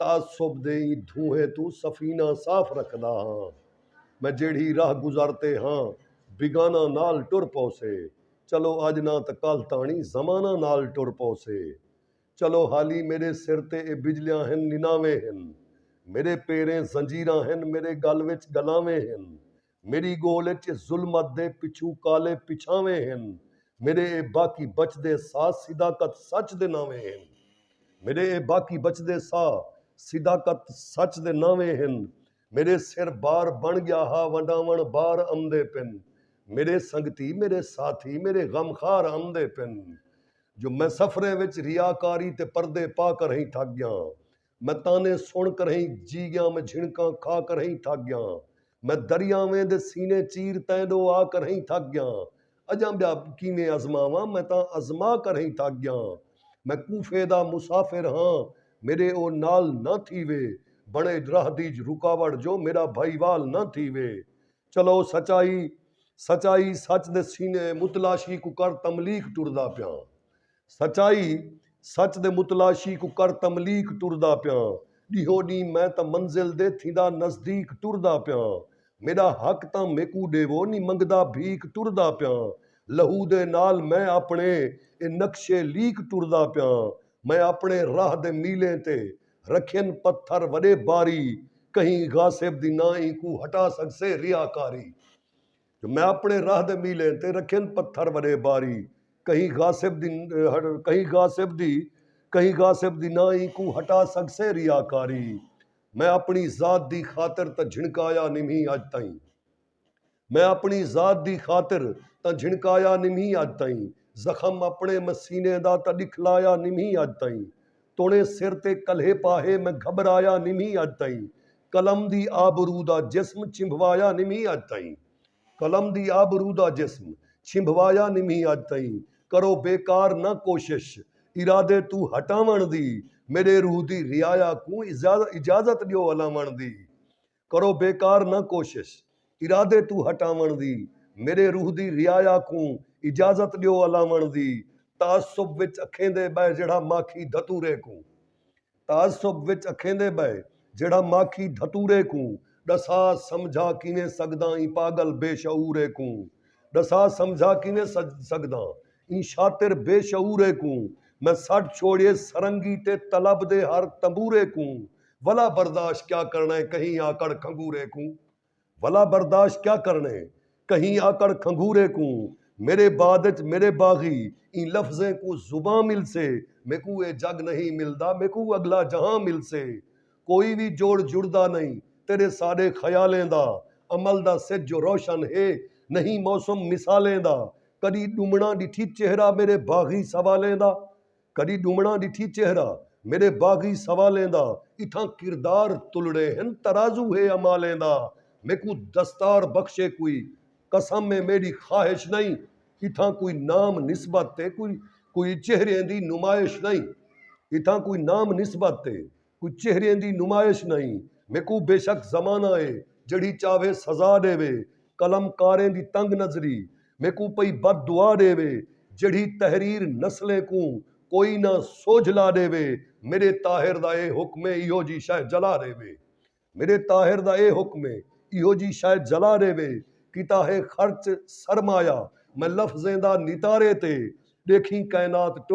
تعصب دے ایں دھونہے توں سفینہ صاف رکھدا ہاں میں جیڑھی راہ گزر تے ہاں بیگانہ نال ٹر پوسے چلو اج نہ تاں کل تاݨی زمانہ نال ٹر پوسے چلو حالی میݙے سر تے اے بجلیاں ہن نناویں ہن میݙے پیریں زنجیراں ہن میݙے ڳل وچ ڳلاویں ہن میݙی ڳول اچ ظلمت دے پچھوں کالے پچھانویں ہن میݙے اے باقی بچدے ساہ صداقت سچ دے ناویں ہن میݙے اے باقی بچدے ساہ صداقت سچ دے ناویں ہن میݙے سر بار بݨ ڳیا ہا ونڈاوݨ بار امدے پن میݙے سنگتی میݙے ساتھی میݙے غم خار امدے پن جو میں سفریں وچ ریاکاری تے پردے پا کر ہیں تھک ڳیاں میں تانے سݨ کرہیں جی ڳیاں میں جھنکاں کھا کرہیں تھک ڳیاں میں دریاویں دے سینے چیر تیں ݙو آ کرہیں تھک ڳیاں اڄاں ٻیا کیویں ازماواں میں تاں ازما کرہیں تھک ڳیاں میں کوفے دا مسافر ہاں میݙے او نال نہ تھیوے بݨے راہ دی رکاوٹ جو میݙا بھائیوال نہ تھیوے چلو سچائی سچائی سچ دے سینے متلاشی کوں کر تملیق ٹردا پیاں سچائی سچ دے متلاشی کوں کر تملیق ٹردا پیاں ڈیہو ڈینہہ میں تاں منزل دے تھیندا نزدیق ٹردا پیاں میڈا حق تاں میکوں ڈیوو نی منگدا بھیک ٹردا پیاں لہو دے نال میں اپنے اے نقشے لیق ٹردا پیاں میں اپنے راہ دے میلیں تے رکھین پتھر وݙے باری کہیں غاصب دی نہ اینکوں ہٹا سڳسے ریا کاری جو میں اپݨے راہ دے میلیں تے رکھین پتھر وݙے باری کہیں غاصب دی کہیں غاصب دی کہیں غاصب دی نہ اینکوں ہٹا سڳسے ریا کاری میں اپݨی ذات دی خاطر تاں جھنکایا نمہیں اڄ تئیں۔ میں اپݨی ذات دی خاطر تاں جھنکایا نمھی اڄ تئیں زخم اپݨے میں سینے دا تاں ݙکھلایا نمھی اڄ تئیں توݨے سر تے کلھے پاہے میں گھٻرایا نمھی اڄ تئیں قلم دی آبرو دا جسم چنبھوایا نمھی اڄ تئیں قلم دی آبرو دا جسم چنبھوایا نمھی اڄ تئیں کرو بیکار نہ کوشش ارادے توں ہٹاوݨ دی میݙے روح دی رعایا کوں اجازت ݙیو الاوݨ دی کرو بیکار نہ کوشش ارادے توں ہٹاوݨ دی میݙے روح دی رعایا کوں اجازت ݙیو الاوݨ دی تعصب وچ اکھیندے ٻہہ جیڑھا ماکھی دھتورے کوں تعصب وچ اکھیندے ٻہہ جیڑھا ماکھی دھتورے کوں ݙسا سمجھا کیویں سڳداں ایں پاڳل بے شعورے کوں ݙسا سمجھا کیویں سڳداں ایں شاطر بے شعورے کوں میں سٹ چھوڑیے سرنگی تے طلب دے ہر تنبورے کوں ولا برداشت کیا کرنا ہے کہیں آکڑ کھنگورے کوں ولا برداشت کیا کرنا ہے کہیں آکڑ کھنگورے کوں میرے بعد اچ میرے باغی ایں لفظیں کوں زباں ملسے میکوں اے جگ نہیں ملدا میکوں اگلا جہاں ملسے کوئی وی جوڑ جڑدا نہیں تیڈے ساڈے خیالیں دا امل دا سج جو روشن ہے نہیں موسم مثالیں دا کڈی ڈمناں ڈٹھی چہرہ میرے باغی سوالیں دا کݙی ݙومݨاں ݙٹھی چہرہ میݙے باغی سوالیں دا اتھاں کردار تلڑے ہن ترازو ہے اعمالیں دا میکوں دستار بخشے کوئی قسم ہے میݙی خواہش نئیں اتھاں کوئی نام نسبت تے کوئی کوئی چہریاں دی نمائش نئیں اتھاں کوئی نام نسبت تے کجھ چہریاں دی نمائش نئیں میکوں بے شک زمانہ اے جیڑھی چاہوے سزا ݙیوے قلم کاریں دی تنگ نظری میکوں پئی بد دعا ݙیوے جیڑھی تحریر نسلیں کوں کوئی نہ سوجھ لا ݙیوے میݙے طاہر دا اے حکم اے ایہو جی شئے جلا ݙیوے میݙے طاہر دا اے حکم اے ایہو جی شئے جلا ݙیوے کیتا ہے خرچ سرمایہ میں لفظیں دا نتارے تے ݙیکھیں کائنات ٹر